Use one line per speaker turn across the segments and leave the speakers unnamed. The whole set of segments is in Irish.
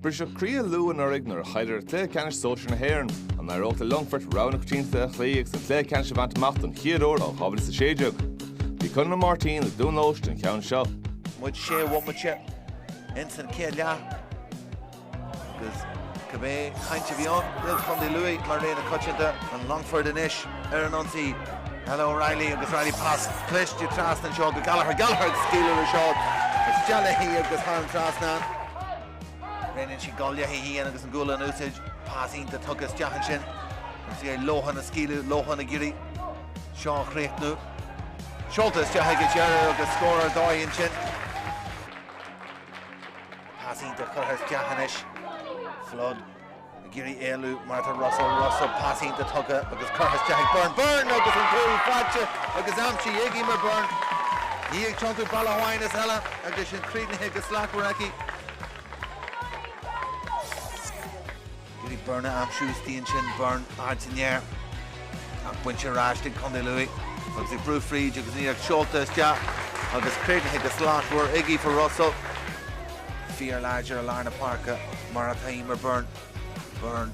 Briseadh croí ar Lú anuraidh nuair a chaill siad ar chluiche ceannais sóisir na hÉireann, an n-éireodh le Longfort, rogha na coitianta a chloí agus an cluiche ceannais a bhaint amach don chéad uair ó 2016. Bhí Connla Ó Máirtín i nDún Eois den cheann seo. Muid sé
bhomaite ins an chéad leath agus cibé chaint a bhí ann faoi Chondae Lú mar rogha na coitianta, an Longfort anois. ar an ionsaí ó Reilly agus Reilly pas cliste trasna anseo go Gallagher, Gallagher ag scaoileadh leis seo isteach léi agus thar an trasnán. Roinneann siad an ghualainn le Sheehan agus an ghualainn in úsáid, pas iontach tugtha isteach ansin agus iarraidh Lohan a scaoileadh, Lohan ag iarraidh seo a chríochnú, seolta isteach ag an deireadh agus scór ar dóigh ansin. Pas iontach curtha isteach anois, Flood. ag iarraidh éalú mar atá Russell, Russell pas iontach tugtha agus curtha isteach ag Byrne, Byrne agus an cúl faighte agus aimsithe ag Eimear Byrne. Í ag tiontú bealach amháin is eile agus sin críochnaithe go slachtmhar aici. Iarraidh Byrne a aimsiú istigh ansin Byrne ard san aer ach bainte ar ais ag Condae Lú agus í ag brú fríd agus ní ag seolta isteach agus críochnaithe go slachtmhar ag Aoife Russell. fíorláidir i lár na páirce, mar atá Eimear Byrne. Byrne,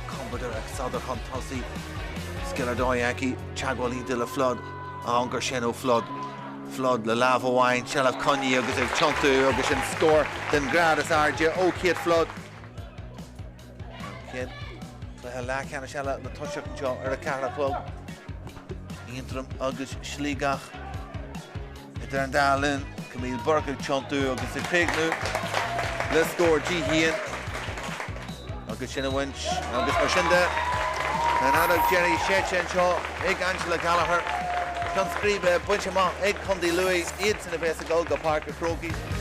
compordach ag sodar chun tosaigh, scil ar dóigh aici, teagmháil iontach le Flood, an-chor sin ó Flood. Flood le lámh amháin, seilbh coinnithe agus ag tiontú agus sin scór den ghrád is airde ó Kate Flood. An chéad chluiche leathcheannais eile le toiseacht anseo ar a ceathair a chlog. Aontroim agus Sligeach idir an dá linn. Camille Burke ag tiontú agus ag críochnú le scór Dee Sheehan agus sin bainte agus mar sin de, an fheadóg dheiridh séidte anseo ag Angela Gallagher. Ceann scríbe bainte amach ag Co. Lú, iadsan a bheas ag dul go Páirc a' Chrócaigh.